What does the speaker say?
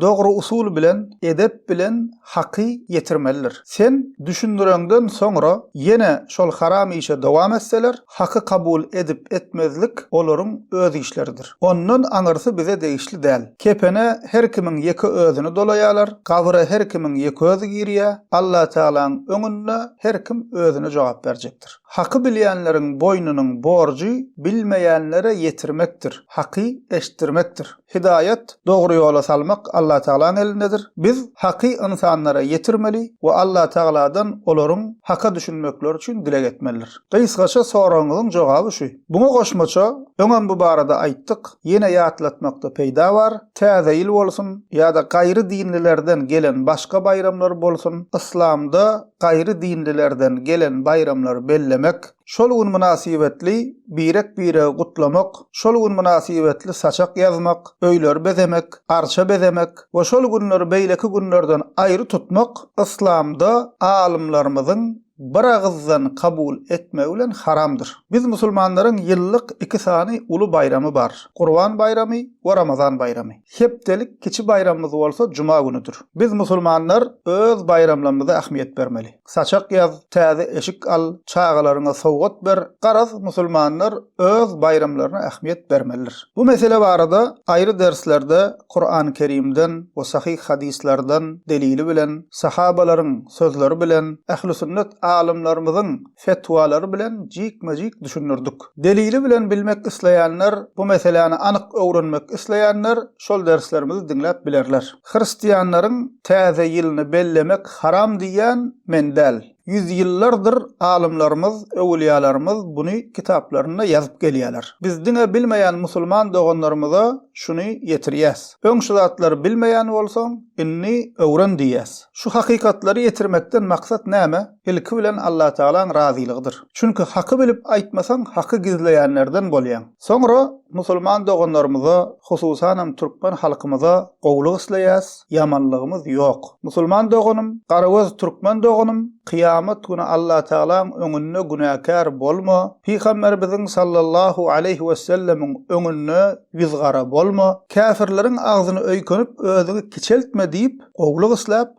Dogry usul bilen, edep bilen haky ýetirmelidir. Sen düşündireňden soňra ýene şol haram işe dowam etseler, haky kabul edip-etmezlik olaryň öz işleridir. Ondan aňyrsy bize degişli däl. Kepene her kimiň ýeke özüni dolaýarlar, gabyra her kimiň ýeke özi girýär, Allatagalaň öňünde her kim özüne jogap berjekdir. Haky bilýänleriň boýnunyň borjy bilmeýänlere ýetirmekdir, haky eşitdirmekdir. Hidaýat, dogry ýola salmak Allatagalaň elindedir. Biz haky ynsanlara ýetirmeli we Allatagaladan olaryň haka düşünmekleri üçin dileg etmelidir. Gysgaça soragyňyzyň jogaby şu. Muňa goşmaça, öňem bu barada aýtdyk, ýene ýatlatmakda peýda bar, Täze ýyl bolsun ýa-da gaýry dinlilerden gelen başga baýramlar bolsun, yslamda gaýry dinlilerden gelen baýramlary bellemek, Şol gün mynasybetli birek-biregi gutlamak, şol gün mynasybetli saçak ýazmak, öýleri bezemek, arça bezemek we şol günleri beýleki günlerden aýry tutmak yslamda alymlarymyzyň biragyzdan kabul etmegi bilen haramdyr. Biz musulmanlaryň ýyllyk iki sany uly baýramy bar, Gurban baýramy we Ramazan baýramy. Hepdelik kiçi baýramymyz bolsa juma günüdir. Biz musulmanlar öz baýramlarymyza ähmiýet bermeli. Saçak ýaz, täze eşik al, çagalaryňa sowgat ber, garaz, musulmanlar öz baýramlaryna ähmiýet bermelidir. Bu mesele barada aýry derslerde Kurany Kerimden we sahyh hadyslardan delili bilen, sahabalaryň sözleri bilen, ähli sünnet alymlarymyzyň fetwalary bilen jikme-jik düşündirdik. Delili bilen bilmek isleýänler, bu meseläni anyk öwrenmek isleýänler şol derslerimizi diňläp bilerler. Hristianlaryň täze ýylyny bellemek haram diýýän men däl. Ýüz ýyllardyr alymlarymyz, öwülýalarymyz buny kitaplarynda ýazyp gelýäler. Biz diňe bilmeýän musulman doganlarymyza şuny ýetirýäs. Öň şu zatlary bilmeýän bolsaň, indi öwren diýýäs. Şu hakykatlary ýetirmekden maksat näme? Ilki bilen Allatagalaň razylygydyr. Çünki haky bilip aýtmasaň haky gizleýänlerden bolýaň. Soňra musulman doganlarymyza, hususanam türkmen halkymyza gowulyk isleýäs, ýamanlygymyz ýok. Musulman doganym, garagöz türkmen doganym, kyýamat güni Allatagalaň öňünde günäkär bolma, Pygamberimiziň sallallahu aleýhi wesellemiň öňünde ýüzgara bolma, käfirleriň agzyny öýkenip özüňi kiçeltme diýip gowulyk isläp,